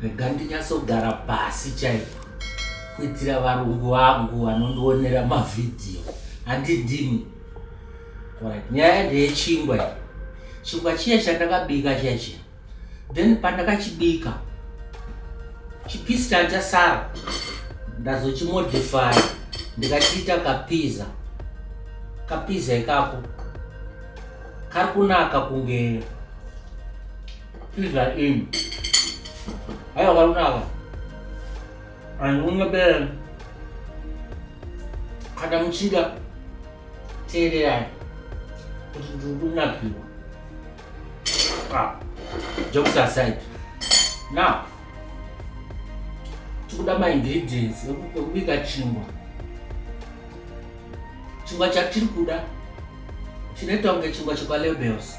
rega ndinyatsogara pasi chaipo kuitira varungu vangu vanondionera mavhidhiyo handi ndimi orit nyaya ndeyechingwa i chingwa chiya chandakabika chiya chiya then pandakachibika chipisi chanchasara ndazochimodify ndikachiita kapiza kapiza ikako kari kunaka kunge Pizza in. Haya warunaga. Anunga bela. Kada muchida teererani kuti ndiri kunakirwa ah, jokes aside now tikuda maingredients ekubika chingwa chingwa chatiri kuda chinoita kunge chingwa chekwa labels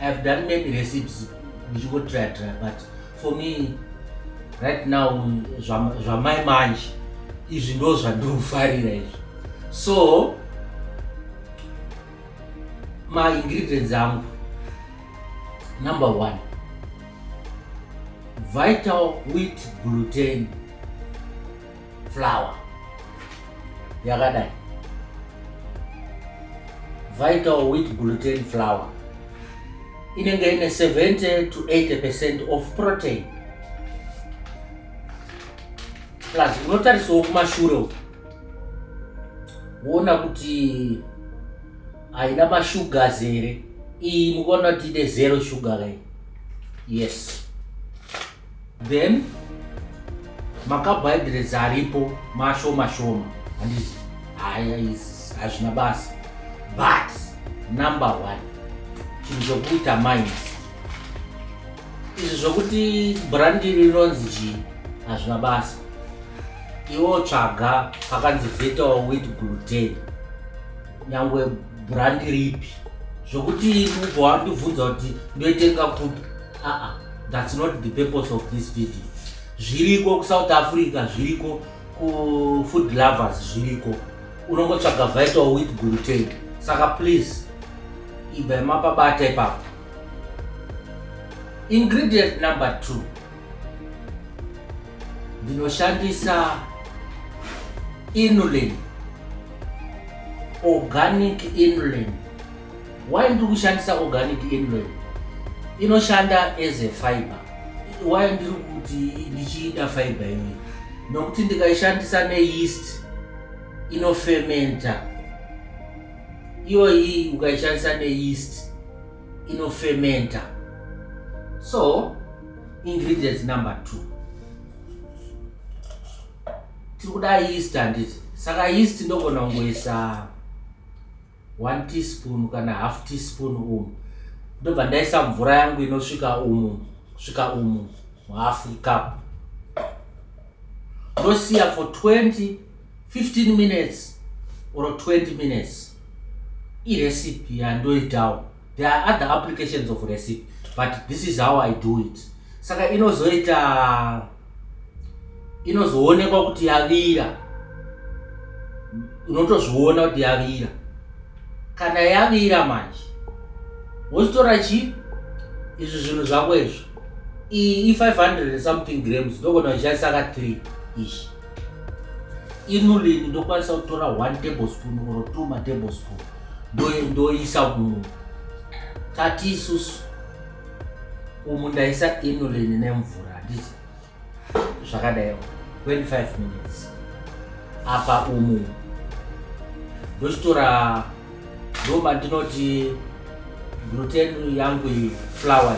I have done many recipes ndichingotry try but for me right now zvamai manje izvi ndo zvandinofarira izvi so maingredients angu number one vital wheat gluten flower yakadai vital wheat gluten flower inenge ine 70 to 80 percent of protein plus unotarisawo kumashure uku woona kuti haina masugars here iyi mukaona kuti ine zero sugar kai yes then makabhaidhirezi aripo mashoma shoma handiti haya hazvina basa but number one chinhu chokuita minds izvi zvokuti brandi rinonzi chii hazvina basa iwo tsvaga pakanzi vetal wit gluten nyangwe brandi ripi zvokuti mubva wandibvunza kuti ndoitenga kupi aa thats not the purpose of this video zviriko kusouth africa zviriko kufood lovers zviriko unongotsvaga vital with gluten saka please ibva mapabata ipapo ingredient number two ndinoshandisa inulin organic inulin Why ndiri kushandisa organic anyway inoshanda as a fiber why ndiri kuti ndichiida fiber iyoyi nokuti ndikaishandisa neyeast inofementa iyoyi ukaishandisa neyeast inofementa so ingredients number two tiri kuda yeast handiti saka yeast ndogona kungoisa one teaspoon kana half teaspoon umu ndobva ndaisa mvura yangu inosvika umu svika umu half cup ndosiya for 20 15 minutes or 20 minutes irecipe yandoitawo there are other applications of recipe but this is how i do it saka inozoita inozoonekwa kuti yavira unotozviona kuti yavira kana yavira manje wozitora chii izvi zvinhu zvako izvo iyi i500 something grams ndogona uchishandisa ka 3 ishi inulini ndokwanisa kutora one table spoon or two matable spoon ndoisa kumu tati isusu umu ndaisa inulin nemvura handiti zvakadai 25 minutes apa umu ndochitora ndoma ndinoti gluten yangu iyi flower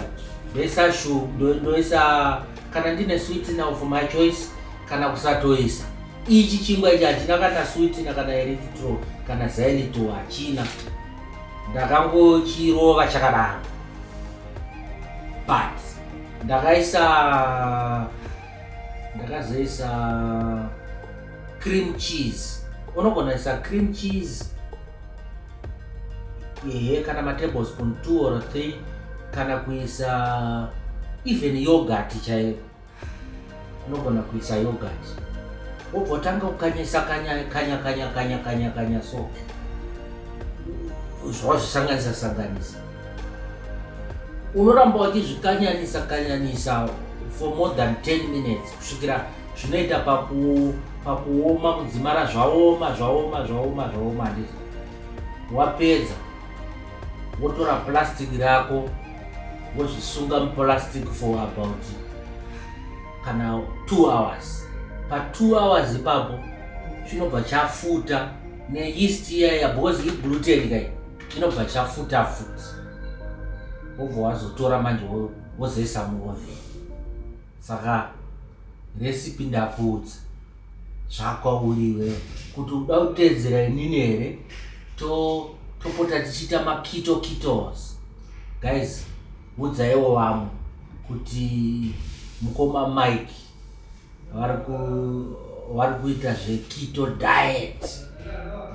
ndoisa shu ndoisa kana ndine sweet now for my choice kana kusatoisa ichi chingwa ichi hachina kana sweet na kana eritro kana zaelito hachina ndakangochirova chakadaro but ndakaisa ndakazoisa cream cheese unogona isa cream cheese ehe kana matablespoon two or three kana kuisa even yogurt chaiyo unogona kuisa yogurt wobva utanga kukanyisa kanya kanya kanya kanya kanya kanya so zvawazvisanganisa sanganisa unoramba wachizvikanyanisa kanyanisa for more than 10 minutes kusvikira zvinoita pakuoma kudzimara zvaoma zvaoma zvaoma zvaoma ndizvo wapedza wotora plastic rako wozvisunga muplastic for about kana two hours pa two hours ipapo chinobva chafuta neyeast iyaya because igluten kai chinobva chafuta futi wobva wazotora manje wozoisa muoven saka recipe ndakuudza zvakwauriwe kuti uda kuteedzera inini here topota to tichiita makito kitos guys udzaiwo vamwe kuti mukoma mike vari kuita zvekito diet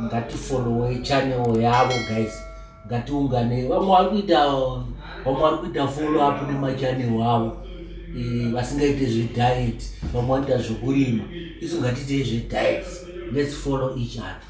ngatifollowe chanel yavo guys ngatiungane vamwe vari kuita vamwe vari kuita follow up nemachanel avo eh, vasingaite zvediet vamwe vanoita zvekurima isu ngatiitei zvediet lets follow each other